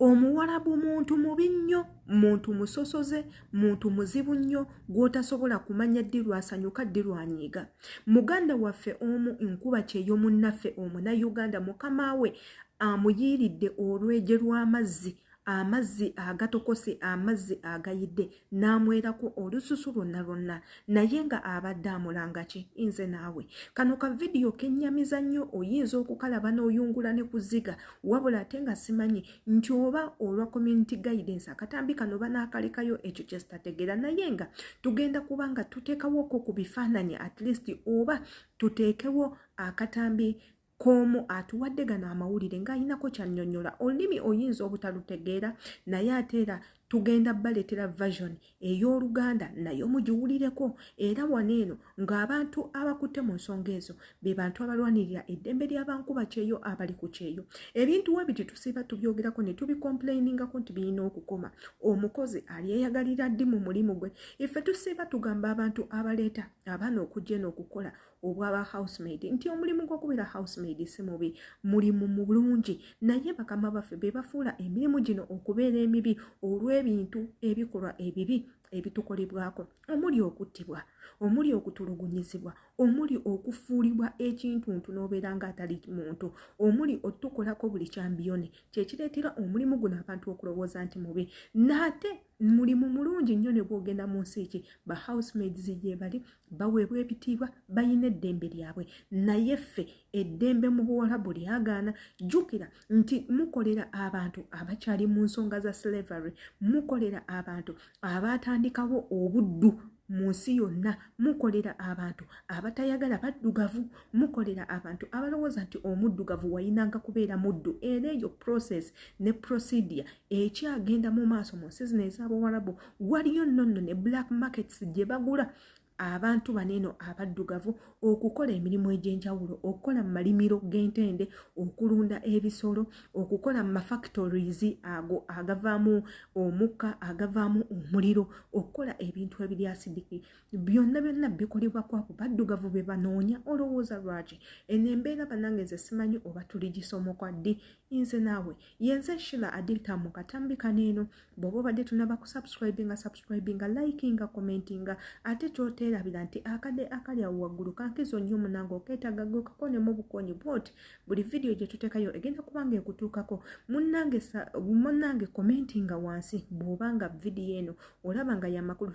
omuwalabu muntu mubi nnyo muntu musosoze muntu muzibu nnyo gw'otasobola kumanya ddi lwasanyuka ddi lwanyiiga muganda waffe omu nkuba kyeyo munnaffe omuna uganda mukama we amuyiiridde olweje lw'amazzi amazzi agatokose amazzi agayidde n'amwerako olususu lwonna lwonna naye nga abadde amulanga ki nze naawe kano ka vidiyo kennyamiza nnyo oyinza okukalaba n'oyungula ne kuziga wabula ate nga simanyi nti oba olwa community guidance akatambi kano banaakalekayo ekyo kye zitategeera naye nga tugenda kuba nga tuteekawoko ku bifaananyi at least oba tuteekewo akatambi koomu atuwadde gano amawulire ng'alinako kyannyonnyola olulimi oyinza obutalutegeera naye ate era tugenda baleetera version ey'oluganda naye omugiwulireko era wano eno ng'abantu abakutte mu nsonga ezo be bantu abalwanirira eddembe ly'abankuba kyeyo abali ku kyeyo ebintu we biti tusiiba tubyogerako ne tubikomplainingako nti birina okukoma omukozi alyeyagalira ddi mu mulimu gwe ife tusiiba tugamba abantu abaleeta abaana okujja eno okukola obwaba housemaid nti omulimu gw'okubeera housemaid si mubi mulimu mulungi naye bakama baffe be bafuula emirimu gino okubeera emibi olw'ebintu ebikolwa ebibi ebitukolebwako omuli okuttibwa omuli okutulugunyizibwa omuli okufuulibwa ekintuntu n'obeera ng'atali muntu omuli otukolako buli kyambiyone kyekireetera omulimu guno abantu okulowooza nti mubi naate mulimu mulungi nnyo ne gwogenda mu nsi ki ba housemaids gyebali baweebwa ebitiibwa balina eddembe lyabwe naye ffe eddembe mu buwalabu lyagaana jjukira nti mukolera abantu abakyali mu nsonga za slavery mukolera abantu abaatandikawo obuddu mu nsi yonna mukolera abantu abatayagala baddugavu mukolera abantu abalowooza nti omuddugavu wayinanga kubeera muddu era eyo process ne procedure ekyagenda mu maaso mu nsi zino ez'abawarabu waliyo nno nno ne black markets gye bagula abantu bano eno abaddugavu okukola emirimu egy'enjawulo okukola mu malimiro g'entende okulunda ebisolo okukola mu mafactories ago agavaamu omukka agavaamu omuliro okukola ebintu ebiri asidiki byonna byonna bikolebwa kwabo baddugavu be banoonya olowooza lwaki eno embeera banange nze simanyi oba tuligisomoka ddi nze naawe yenze shila adilta mu katambi kaneeno bwoba obadde tunaba ku subscribinga subscribinga likinga commentinga ate kyoteerabira nti akade akali awo waggulu kankizo nnyo munange okeetaga gwe kakone mu bukonyi bwoti buli vidiyo gye tutekayo egenda kubanga ekutuukako munange munange commentinga wansi bwoba nga vidiyo eno olaba nga yamakulu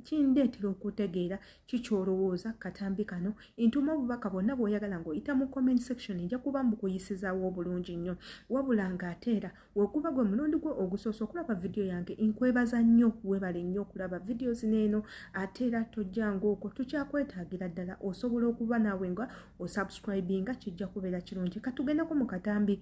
kindeetera okutegeera ki kyolowooza ku katambi kano ntuma obubaka bwonna bwoyagala ng'oyita mu comment section nja kuba mbukuyisizaawo obulungi nnyo wabula ng'ate era wekuba gwe mulundi gwe ogusoose okulaba vidiyo yange nkwebaza nnyo webale nnyo okulaba vidiyo zino eno ate era tojja ngaoko tukyakwetaagira ddala osobola okuba naawe nga osubscribinga kijja kubeera kirungi katugendeko mu katambi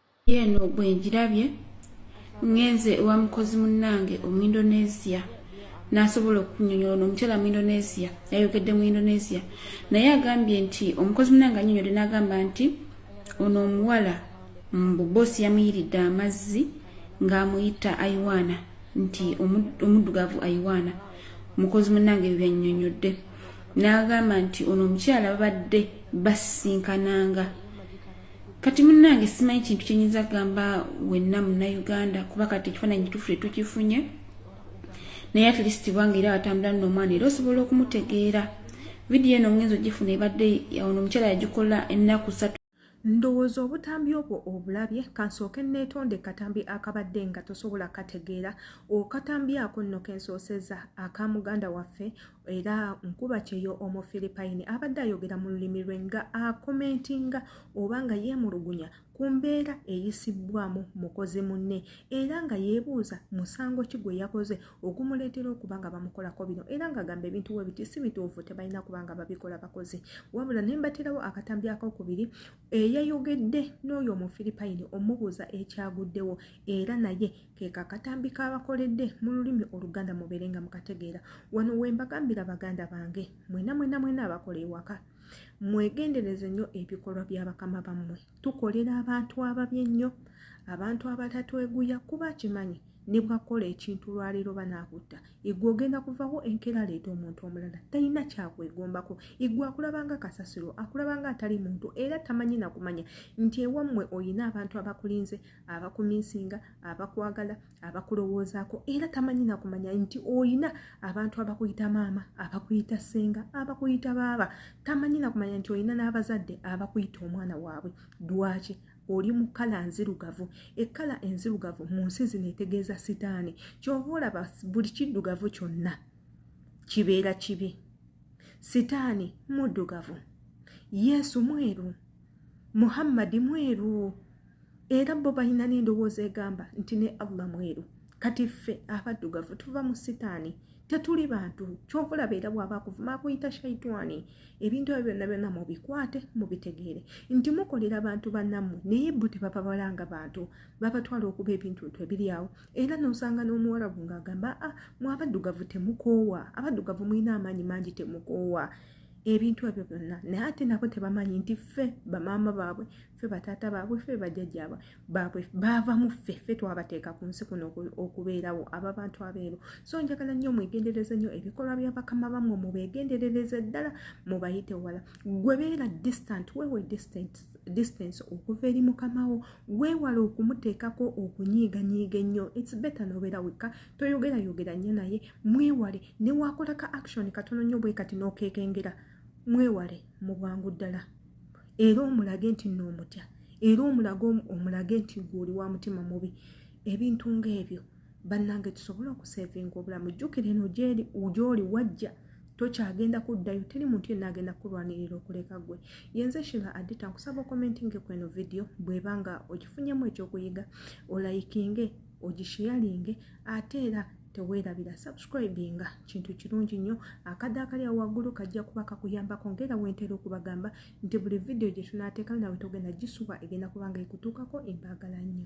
yeeno bwe ngirabye ngenze ewa mukozi munnange omuindonesia n'asobola okunyonyola no omukyala mu indonesia yayogedde mu indonesia naye agambye nti omukozi munnange anyonyode n'agamba nti ono omuwala mbu boosi yamuyiridde amazzi ng'amuyita aiwaana nti omuddugavu aiwaana mukozi munnange ebyo byanyonyodde n'agamba nti ono omukyala babadde basisinkananga kati munange simanyi kintu kyenyinza kugamba wenna munauganda kuba kati ekifaananyi kitufu tetukifunye naye atleast bwange era watambula nomwana era osobola okumutegeera vidiyo eno ngenza ogifuna ebadde ono omukyala yagikola ennaku satu ndowooza obutambi obwo obulabye kansooke neetonda ekatambi akabadde nga tosobola kategeera okatambi ako nno kensooseza aka muganda waffe era nkuba kyeyo omufiripayini abadde ayogera mu lulimi lwe nga akomentinga oba nga yeemulugunya ku mbeera eyisibbwamu mukozi munne era nga yeebuuza musango ki gwe yakoze ogumuleetera okuba nga bamukolako bino era ng'agamba ebintu we biti si bituufu tebalina kuba nga babikola bakozi wabula ne mbaterawo akatambi akokubiri eyayogedde n'oyo omufiripayini omubuuza ekyaguddewo era naye keeko akatambi kaabakoledde mu lulimi oluganda mubeere nga mukategeera wano we mbagambira baganda bange mwena mwena mwena abakola ewaka mwegendereze nnyo ebikolwa bya bakama bammwe tukolera abantu ababi ennyo abantu abatatweguya kuba kimanyi ne bwakola ekintu lwaleero banaakutta igwe ogenda kuvawo enkeera leeta omuntu omulala talina kyakwegombako igwe akulabanga kasasiro akulabanga atali muntu era tamanyi nakumanya nti ewammwe olina abantu abakulinze abakuminsinga abakwagala abakulowoozaako era tamanyi nakumanya nti olina abantu abakuyita maama abakuyita ssenga abakuyita baaba tamanyi nakumanya nti olina n'abazadde abakuyita omwana waabwe lwaki oli mu kkala nzirugavu ekkala enzirugavu mu nsi zino etegeeza sitaani kyova olaba buli kiddugavu kyonna kibeera kibi sitaani muddugavu yesu mweru muhammadi mweru era bo balina n'endowooza egamba nti ne allah mweru kati ffe abaddugavu tuva mu sitaani tetuli bantu kyovulaba era bwaba akuvuma akuyita shaitwani ebintu ebyo byonna byonna mubikwate mubitegeere nti mukolera bantu banammwe naye bo tebababala nga bantu babatwala okuba ebintu ntu ebiri awo era nosanga n'omuwalabu ngaagamba a ah, mwe abaddugavu temukoowa abaddugavu mulina amaanyi mangi temukoowa ebintu ebyo byonna naye ate nabo tebamanyi nti ffe bamaama baabwe ffe bataata baabwe ffe bajjajja baabwe baava mu ffe ffe twabateeka ku nsi kuno okubeerawo aba bantu abeeru so njagala nnyo mwegendereze nnyo ebikolwa bya bakama bammwe mubegenderereze ddala mubayite wala gwe beera distant wewe distant distance okuva eri mukamawo weewala okumuteekako okunyiiganyiiga ennyo its better nobeera wekka toyogera yogera nnyo naye mwewale newakolaka action katono nnyo bwe kati n'okekengera mwewale mu bwangu ddala era omulage nti noomutya era omulage omulage nti gweoli wa mutima mubi ebintu ngaebyo bannange tusobole okusevinga obulamu jjukire no gyeri gyoli wajja tokyagenda kuddayo teri muntu yenna agenda kulwanirira okuleka gwe yenze shiva adita nkusaba okomentinge ku eno vidiyo bweba nga ogifunyemu ekyokuyiga olayikinge ogisheyalinge ate era teweerabira subscribinga kintu kirungi nnyo akadde akali awo waggulu kajja kuba kakuyambako ngaera wentera okubagamba nti buli vidiyo gye tunaateeka nawe togenda gisuba egenda kubanga ekutuukako embaagala nnyo